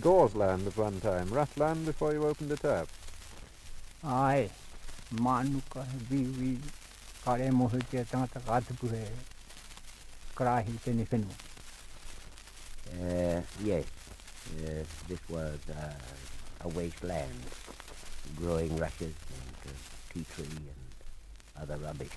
Gauze land at one time, rough land before you opened it up. Ae, mānuka, he wīwī, kāre e mōhio ki a tangata ka tupu he karāhi i tēnei whenua. Uh, yes, uh, this was a, a waste land, growing rushes and uh, tea tree and other rubbish.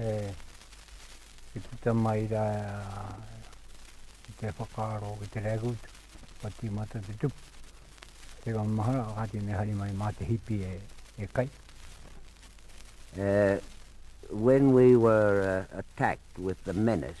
e puta mai rā i te whakaaro, i te regut, ka tīmata te tupu. Te ka mahara, ka tēnei hari mai mā te hipi e, e kai. Uh, when we were uh, attacked with the menace,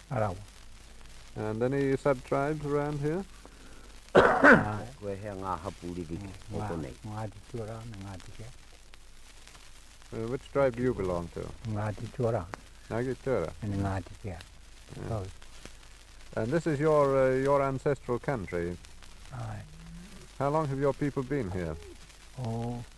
Arawa. And any sub-tribes around here? Koe hea ngā hapū ririki o konei? Ngāti Tuarā me Ngāti Kea. Uh, which tribe do you belong to? Ngāti Tuarā. Ngāti Tuarā? And Ngāti Kea. Yeah. Both. And this is your, uh, your ancestral country? Aye. How long have your people been here? Oh,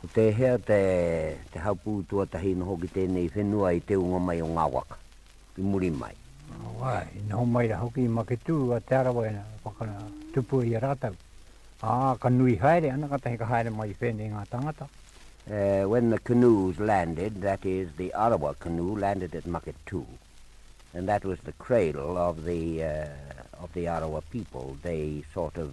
Ko tēhea te te hapū tuatahi i noho ki tēnei whenua i te ūnga mai o ngā waka, ki muri mai? Wai, i noho mai rā hoki i Maketū a Te Arawa ina whakatupua i a rātou, ā, ka nui haere ana, kātahi ka haere mai i whēnei ngā tāngata. When the canoes landed, that is, the Arawa canoe landed at Maketū, and that was the cradle of the of the Arawa people, they sort of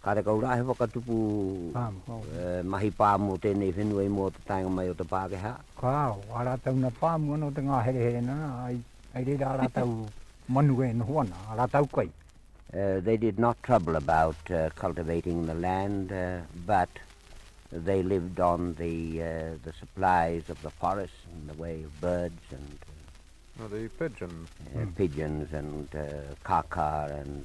Kāre kau rā he whakatupu mahi pā mō tēnei whenua i mua o te taenga mai o te Pākehā? Kāo, ā rātou na pāmua nō te ngāherehere nana, ai reira ā rātou manu e noho ana, ā rātou kai. They did not trouble about cultivating the land, but they lived on the the supplies of the forest in the way of birds and pigeons and kākā and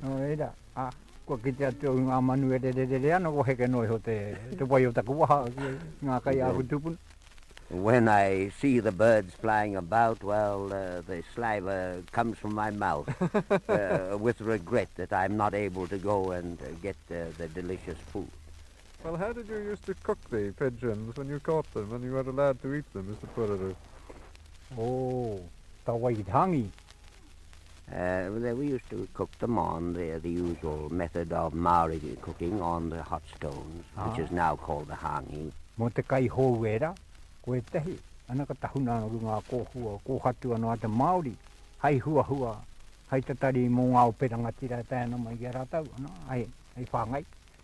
Nō reira, ā, kua kite atu au i ngā manu e rererere ana, kua heke noa iho te wai o taku waha ki ngā kai a aku tūpuna. When I see the birds flying about, well, the saliva comes from my mouth with regret that I'm not able to go and get the delicious food. Well, how did you use to cook the pigeons when you caught them and you weren't allowed to eat them, Mr Pururu? Oh, ka wai ki te hāngi. There we used to cook them on the the usual method of Māori cooking on the hot stones which is now called the hāngi. Mō te kai hou ērā, ko ētahi, ana ka tahuna ana ki ngā kōhua kōhatu anō a te Māori, hai huahua, hai tatari mō ngā ope rangatira e tae ana mai ki a rātou, ana, hai whāngai.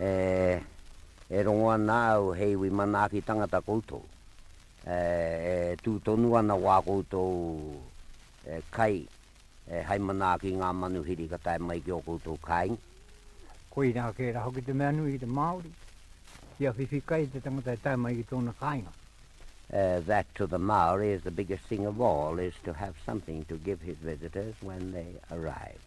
E, e rongo ana au he iwi manaaki tangata koutou. E, e tū tonu ana wā koutou e, kai, e, hai manaaki ngā manuhiri ka tae mai ki ō koutou kāinga. Koirā tērā hoki te mea nui ki te Māori, kia whiwhi kai te tangata e tae mai ki tōna kāinga. E, that to the Māori is the biggest thing of all is to have something to give his visitors when they arrive.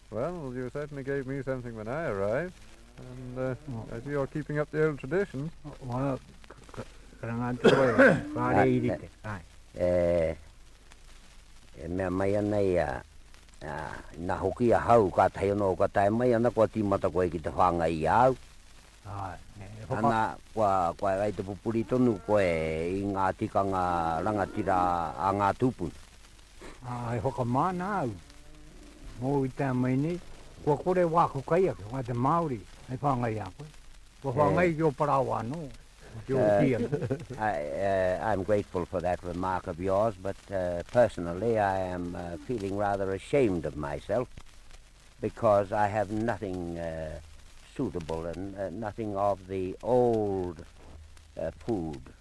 Well, you certainly gave me something when I arrived, and uh, I see you're keeping up the old tradition. Well, e, e mea mai ana i a, a na hoki a hau ka tahi ono ka tae mai ana kua timata koe ki te whanga i au. Ai, e hopa. Ana, kua, kua rai te pupuri tonu koe i ngā tikanga rangatira a ngā tūpuna. Ā, e whakamana au, mōu i te ama i nei, kua kore wāku kaiaka, a te Māori, hei whāngai i a koe. Kua whāngai ki ō parāoa anō, ki ō tīaki. I am grateful for that remark of yours, but personally I am feeling rather ashamed of myself because I have nothing suitable and nothing of the old food.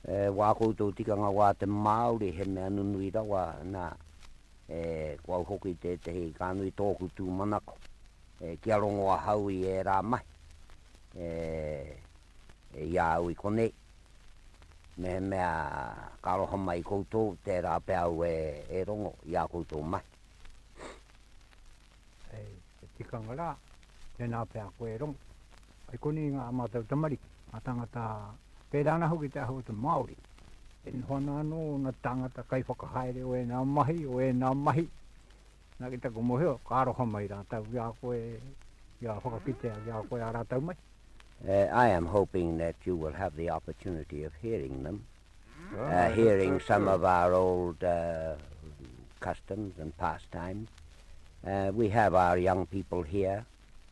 E wā koutou tikanga wā te Māori he mea nunui rawa, nā, e, ko au hoki tētehi ka nui tōku tūmanako, e, kia rongo ahau i ērā mahi, e, e, i a au i konei, mehemea ka aroha mai i koutou, tērā pea au e, e rongo i ā koutou mahi. Hei te tikanga rā, tēnā pea koe e rongo. I konei ngā mātou tamariki, ngā tāngata, pērā ana hoki te ahu o te Māori, e noho ana anō ōna tāngata kaiwhakahaere o ēnā mahi, o ēnā mahi. Nā, ki taku mōhio, ka aroha mai rātou ki a koe, kia whakakitea ki a koe ā rātou mahi. I am hoping that you will have the opportunity of hearing them, hearing some of our old customs and pastimes. We have our young people here.